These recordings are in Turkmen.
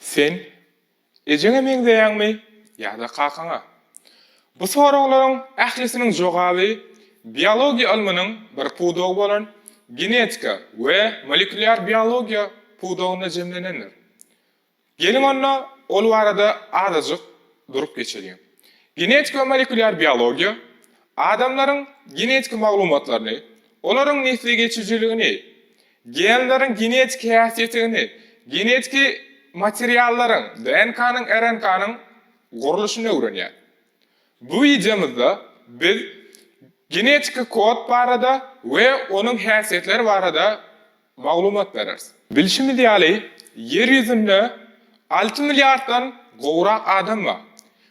Sen ejeňe meňzeýäňmi ýa-da kakaňa? Bu soraglaryň ählisiniň jogaby biologiýa ylmynyň bir pudagy bolan genetika we molekulýar biologiýa pudagynda jemlenendir. Geliň onda, ol barada azajyk durup geçeliň. Genetika-molekulýar biologiýa adamlaryň genetik maglumatlaryny, olaryň nesli geçijiligini, genleriň genetik häsiýetigini, genetiki materiallaryň, DNK-nyň, RNK-nyň, gurluşyny öwrenýär. Bu wideomyzda biz genetiki kod barada we onuň häsiýetleri barada maglumat bereris. Bilşimiz ýaly, Ýer ýüzünde alty milliarddan gowrak adam bar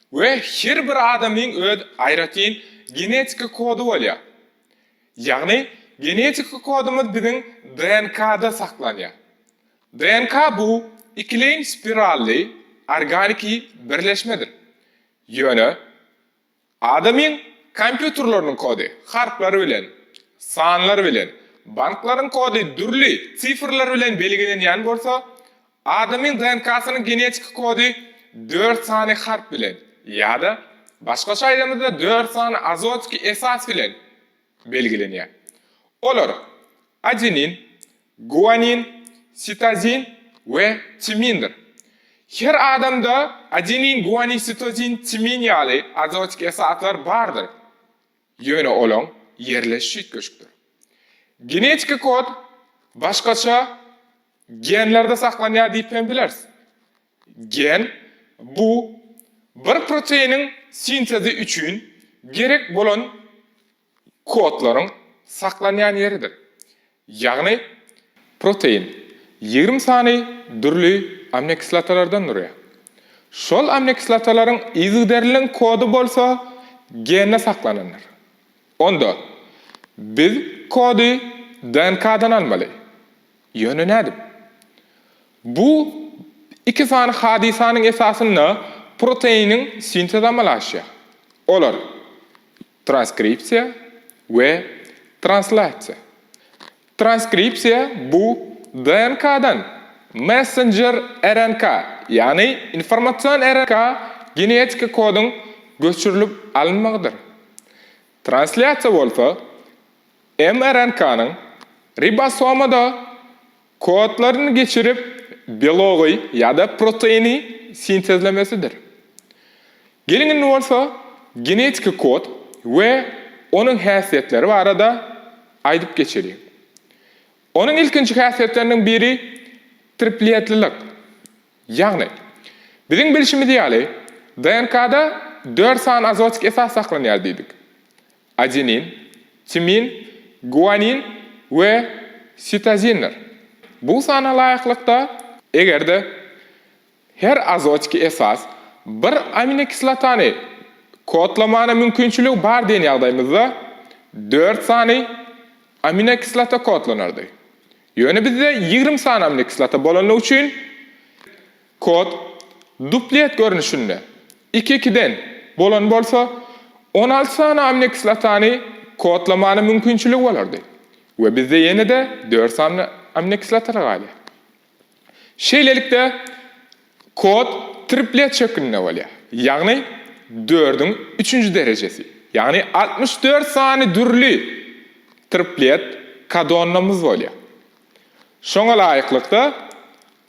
we her bir adamyň öz aýratyn genetiki kody bolýar. Ýagny, genetiki kodumyz biziň DNK-da saklanýar. DNK bu ikileýin spirally organiki birleşmedir. Ýöne Adamyň kompýuterleriniň kody harplar bilen, sanlar bilen, banklaryň kody dürli sifrler bilen belgilenýän bolsa, adamyň DNK-synyň genetiki kody dört sany harp bilen ýa-da, başgaça aýdamyzda, dört sany azotiki esas bilen belgilenýär. Olar, adenin, Guanin, sitozin we timindir. Her adamda adenin, guanin, sitozin, timin ýaly arotik esaslar bardyr, ýöne olaň ýerleşişi üýtgeşikdir. Genetiki kod başgaça genlerde saklanýar diýip hem bileris. Gen, bu bir proteiniň sintezi üçin gerek bolan kodlaryň saklanýan ýeridir. Ýagny, protein ýigrimi sany dürli aminokislotalardan durýar. Şol aminokislotalaryň yzygiderliligiň kody bolsa gende saklanandyr. Onda, biz kody DNK-dan almaly. Ýöne nädip? Bu iki sany hadysanyň esasynda proteiniň sintezi amala aşýar. Olar. Transkripsiýa we translasiýa. Transkripsiýa bu DNK-dan messenjer RNK, ýagny informasion RNK genetik kodyň göçürilip alynmagydyr. Translasiýa bolsa mRNK-nyň ribosomada Kodlaryny geçirip, belogy ýa-da proteini sintezlemesidir. Geliň indi bolsa genetiki kod we onuň häsiýetleri barada aýdyp geçeliň. Onuň ilkinji häsiýetleriniň biri triplýetlilik. Ýagny, biziň bilşimiz ýaly, DNK-da dört sany azotik esas saklanýar diýdik. Adenin, timin, guanin we sitozindir. Bu sana laýyklykda, eger-de her azotiki esas bir aminokislotany kodlamana mümkinçiligi bar diýen ýagdaýymyzda, dört sany aminokislota kodlanardy. Ýöne bizde ýigrimi sany aminokislota bolandygy üçin, Kod duplet görnüşinde, iki-ikiden, bolan bolsa, on alty sany aminokislotany kodlamanyň mümkinçiligi bolardy we bizde ýene-de dört sany aminokislotalar galýar. Şeýlelikde, kod triplet şeklinde bolýar, ýagny dördüň üçünji derejesi, ýagny altmyş dört sany dürli triplet kodonlamyz bolýar. Şoňa laýyklykda,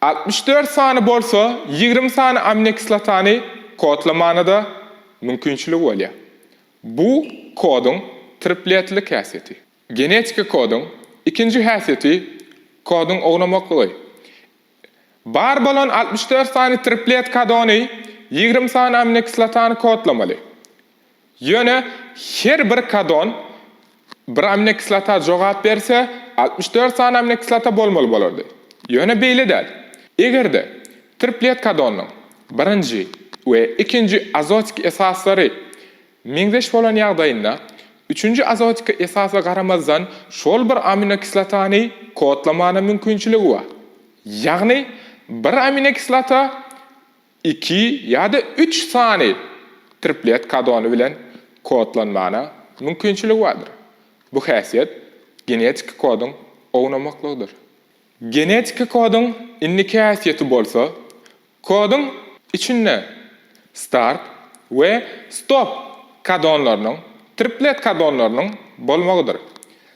Altmyş dört sany bolsa ýigrimi sany aminokislotany kodlamana-da mümkinçiligi bolýar. Bu koduň tripletlilik häsiýeti. Genetiki koduň ikinji häsiýeti koduň ownamaklygy. Bar bolan altmyş dört sany triplet kodony ýigrimi sany aminokislotany kodlamaly. Ýöne her bir kadon bir aminokislota jogap berse, altmyş dört sany aminokislota bolmaly bolardy. Ýöne beýle däl. Eger-de triplet kadonynyň birinji we ikinji azotik esaslary meňzeş bolan ýagdaýynda, üçünji azotik esasa garamazdan şol bir aminokislotany kodlamana mümkinçiligi bar. Ýagny bir aminokislota iki ýa-da üç sany triplet kodony bilen kodlanmana mümkinçiligi bardyr. Bu häsiýet genetiki koduň ownamaklygydyr. Genetiki koduň indiki häsiýeti bolsa koduň içinde start we stop kodonlarynyň, triplet kodonlarynyň bolmagydyr.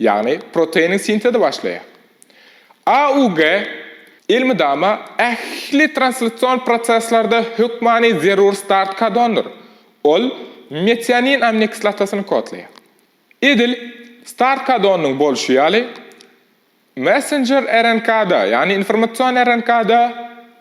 ýagny proteiniň sintezi başlaýar. AUG elmydama ähli translasion proseslerde hökmany zerur start kodondyr, ol metionin aminokislotasyny kodlaýar. Edil start kodonynyň bolşy ýaly, messenjer RNK-da, ýagny informasion RNK-da,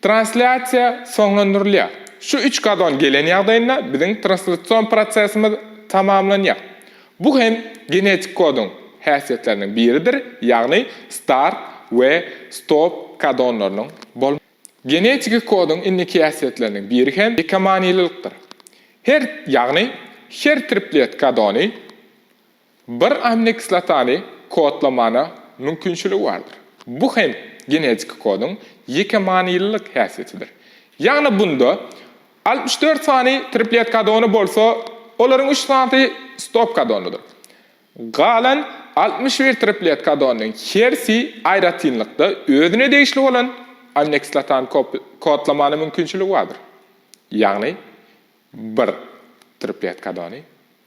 Translýasiýa soňlandyrylýar. Şu üç gazon gelen ýagdaýynda biziň translasion prosesimiz tamamlanýar. Bu hem genetik koduň häsiýetleriniň biridir, ýagny start we stop gazonlarynyň bolmagy. Genetiki koduň indiki häsiýetleriniň biri hem bikamanilylikdir. Her, ýagny her triplet gazony Bir aminokislotany kodlamana mümkinçiligi bardyr. Bu hem genetiki koduň ýeke manylylyk häsiýetidir. Ýagny bunda altmyş dört sany triplet kodony bolsa, olaryň üç sanysy stop kodonydyr. Galan altmyş bir triplet kodonynyň hersi aýratynlykda özüne degişli bolan aminokislotany kodlamana mümkinçiligi bardyr. Ýagny bir triplet kodony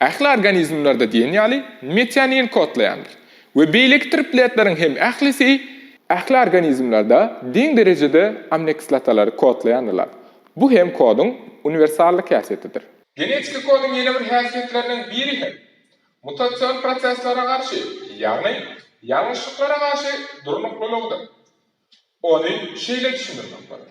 Ähli organizmlerde diýen ýaly metionin kodlaýandyr we beýleki tripletleriň hem ählisi, ähli organizmlerde deň derejede aminokislotalary kodlaýandyrlar, bu hem koduň uniwersallyk häsiýetidir. Genetiki koduň ýene bir häsiýetlerinden biri hem mutasion proseslere garşy, ýagny ýalňyşlyklara garşy durnuklylygydyr. Ony şeýle düşündirmek bolar.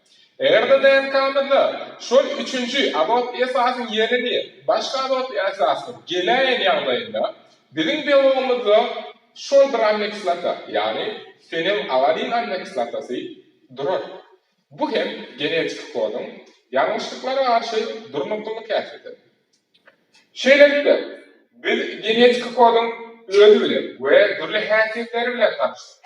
RNA-DNK-myzda şol üçünji azotly esasyň ýerini başga azotly esasyň geläýen ýagdaýynda, biziň belogymyzda şol bir aminokislota, ýagny fenilalanin aminokislotasy durar. Bu hem genetiki koduň ýalňyşlyklara garşy durnuklylyk häsiýetini. Şeýlelikde, biz genetiki koduň özi bilen we dürli häsiýetleri bilen tanyşdyk.